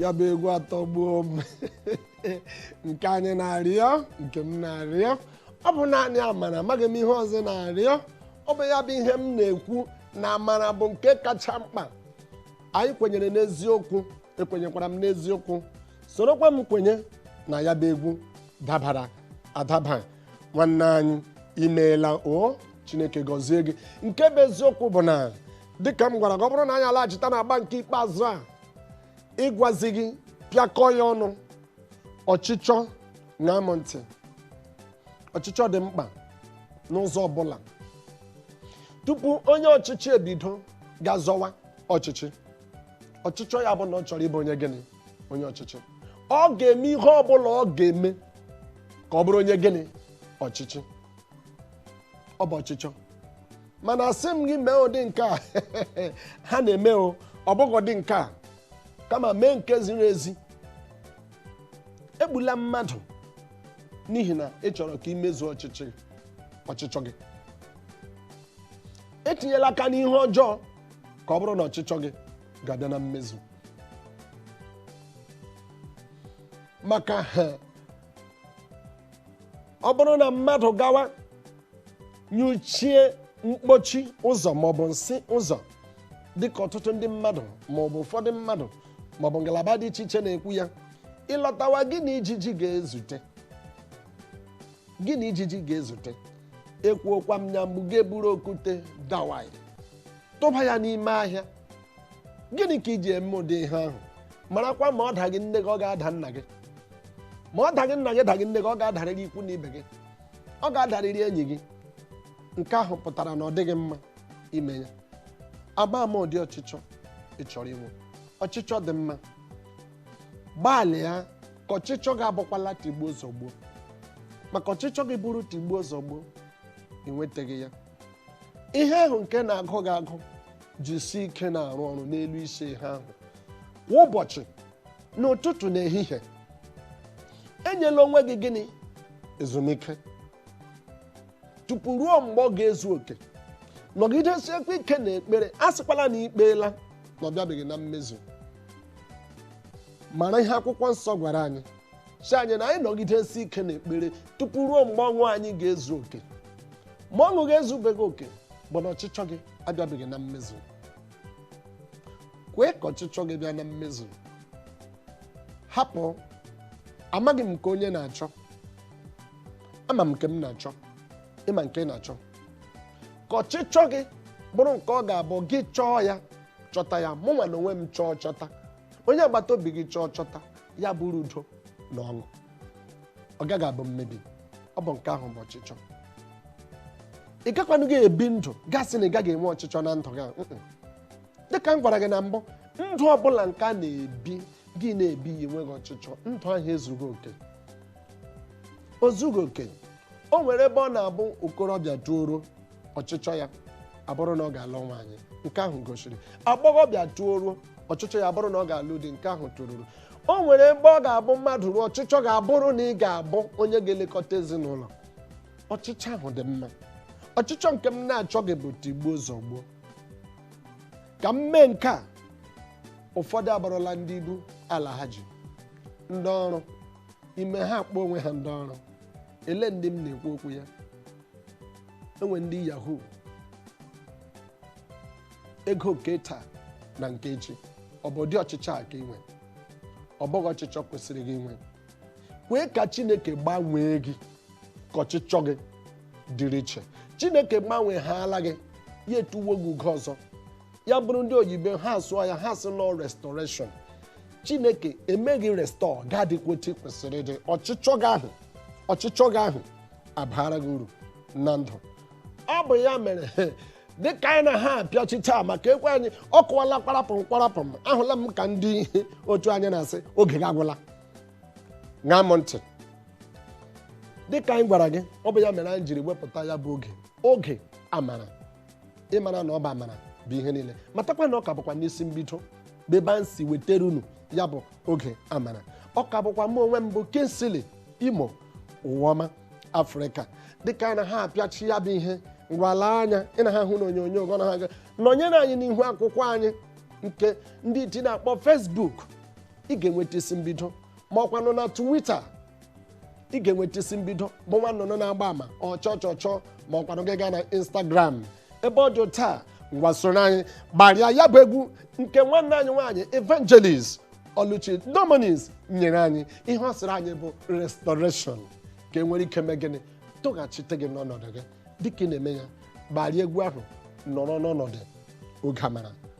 ya bụ egwu atọgbuo m nke anyị na-arịọ nke m na-arịọ ọ bụ naanị amara amaghị m ihe ọzọ ị na-arịọ ọ bụ ya bụ ihe m na-ekwu na amara bụ nke kacha mkpa anyị kwenyere n'eziokwu ekwenyekwara m n'eziokwu sorokwa m kwenye na ya bụ egwu dabara adaba nwanne anyị imeela o chineke gọzie gị nke bụ eziokwu bụ na dịka m gwara gị ọ bụrụ na anyị alaghachita na agba nke ikpeazụ a ịgwazi gị pịakọ ya ọnụ ọchịchọ ṅaa mụ ntị ọchịchọ dị mkpa n'ụzọ ọbụla tupu onye ọchịchị ebido ga-azọwa ọchịchị ọchịchọ ya bụ na ọ chọrọ ịbụ onye gịnị onye ọchịchị ọ ga-eme ihe ọ bụla ọ ga-eme ka ọ bụrụ onye gịnị ọchịchị ọ bụ ọchịchọ mana asị m gị mee ụdị nke a ha na-eme o ọ bụghị ụdị nke a kama mee nke ziri ezi egbula mmadụ n'ihi na ị chọrọ ka i mezuo ọchịchọ gị etinyela aka n'ihe ọjọọ ka ọ bụrụ na ọchịchọ gị ga-abịa na mmezu maka ọ bụrụ na mmadụ gawa nyụchie mkpochi ụzọ maọbụ nsị ụzọ dịka ọtụtụ ndị mmadụ maọbụ ụfọdụ mmadụ maọbụ ngalaba dị iche iche na-ekwu ya ị lọtawa gị na ijiji ga-ezute gị na ijiji ga-ezute ekwuokwa m ya mbụ ga-eburu okwute dawai tụba ya n'ime ahịa gịnị ka i ji eme ụdị ihe ahụ marakwa ma ọ daghị nne gị ọ ga-ada nna gị ma ọ daghị nna gị daghị nne gị ọ ga-adarịrị ikwu na ibe gị ọ ga-adarịrị enyi gị nke ahụ pụtara na ọ dịghị mma ime ya ama ama ụdị ọchịchọ ị chọrọ inwe ọchịchọ dị mma gbalịa ka ọchịchọ gị abụkwala tigbuo zọgbuo maka ọchịchọ gị bụrụ tigbuo zọgbuo ị nwetaghị ya ihe ahụ nke na-agụ gị agụ jisie ike na-arụ ọrụ n'elu isi ihe ahụ kwa ụbọchị n'ụtụtụ na ehihie enyela onwe gị gịnị ezumike tupu ruo mgbe ọ ga-ezu oke nọgidesiekwa ike na ekpere asịkwala na i kpeela na ọ bịabeghị na mmezu mara ihe akwụkwọ nsọ gwara anyị sị anyị na anyị nọgidesi ike na ekpere tupu ruo mgbe ọṅụ anyị ga-ezu oke ma ọṅụ gị ezubeghị oke bụ na ọchịchọ gị abịabeghị na mmezu kwee ka ọchịchọ gị bịa na mmezu hapụ amaghị m nke onye na-achọ ama m nke m na-achọ ị ma nke ị na-achọ ka ọchịchọ gị bụrụ nke ọ ga-abụ gị chọọ ya chọta ya mụ nwa na onwe m chọọ chọta onye agbata obi gị chọọ chọta ya bụrụ udo na ọṅụ ọ gaghị abụ mmebi ọ bụ nke ahụ bụ ọchịchọ ị gakwanụghị ebi ndụ gị asị na ị gaghị enwe ọchịchọ na ndụ gị a, mm-mm. dịka m gwara gị na mbụ ndụ ọbụla nke a na-ebi gị na-ebi ya enweghị ọchịchọ ndụ ahụ ezughị oke o zughị oke o nwere ebe ọ na-abụ okorobịa toruo ọchịchọ ya abụrụ na ọ ga-alụ nwaanyị nke ahụ gosiri agbọghọbịa toruo ọchịchọ ya abụrụ na ọ ga-alụ di nke ahụ toruru o nwere ebe ọ ga-abụ mmadụ ruo ọchịchọ gị abụrụ na ị ga-abụ onye ga-elekọta ezinụlọ ọchịchọ ahụ dị mma ọchịchọ nke m na-achọghị bụ tigbuo zọgbuo ka m mee nke a ụfọdụ abụrụla ndị ibu alhaji ndị ọrụ i mee ha akpọọ onwe ha ndị ọrụ lee ndị m na-ekwu okwu ya e nwee ndị yahoo ego nke taa na nke echi ọ bụ ụdị ọchịchọ a ka i nwe ọ bụghị ọchịchọ kwesịrị gị inwe kwee ka chineke gbanwee gị ka ọchịchọ gị dịrị iche chineke gbanweehaala gị ya etuwo gị ugo ọzọ ya bụrụ ndị oyibo ha asụọ ya ha sị na ọ restoration chineke mee gị restore gị adịkwa otu ị kwesịrị ịdị ọchịchọ gị ahụ abara gị uru na ndụ ọ bụ ya mere dịka anyị na-aha apịachi taa maka ekwe anyị akụwala kparapụm kparapụm ahụla m ka ndị otu anyị na-asị oge gị agwụla ṅaa m ntị dịka anyị gwara gị ọ bụ ya mere anyị jiri wepụta ya bụ oge oge amara ị mara na ọ bụ amara bụ ihe niile matakwa na ọ ka bụkwa n'isi mbido bụ ebe anyị si wetara unu ya bụ oge amara ọ ka bụkwa mụ onwe m bụ kingsley imo ụwaọma afrịka dịka anyị na-aha apịachi ya bụ ihe ngwa lee anya ị na-aha ahụ n'onyonyo gọ na ha gaa nọnyere anyị n'ihu akwụkwọ anyị nke ndị iti na-akpọ facebook ị ga-enweta isi mbido ma ọ kwanụ na twitter ị ga-enweta isi mbido bụ nwa nnụnụ na-agba ama ọchọ chọ chọ ma ọ kwanụ gị gaa na Instagram ebe ọ dị otu a ngwa soro anyị gbarịa ya bụ egwu nke nwanne anyị nwaanyị Evangelist Oluchi Dominis nyere anyị ihe ọ sịrị anyị bụ restoration ka e nwere ike mee gịnị tụghachite gị n'ọnọdụ gị dịka ị na-eme ya gbarịa egwu ahụ nọrọ n'ọnọdụ oge amara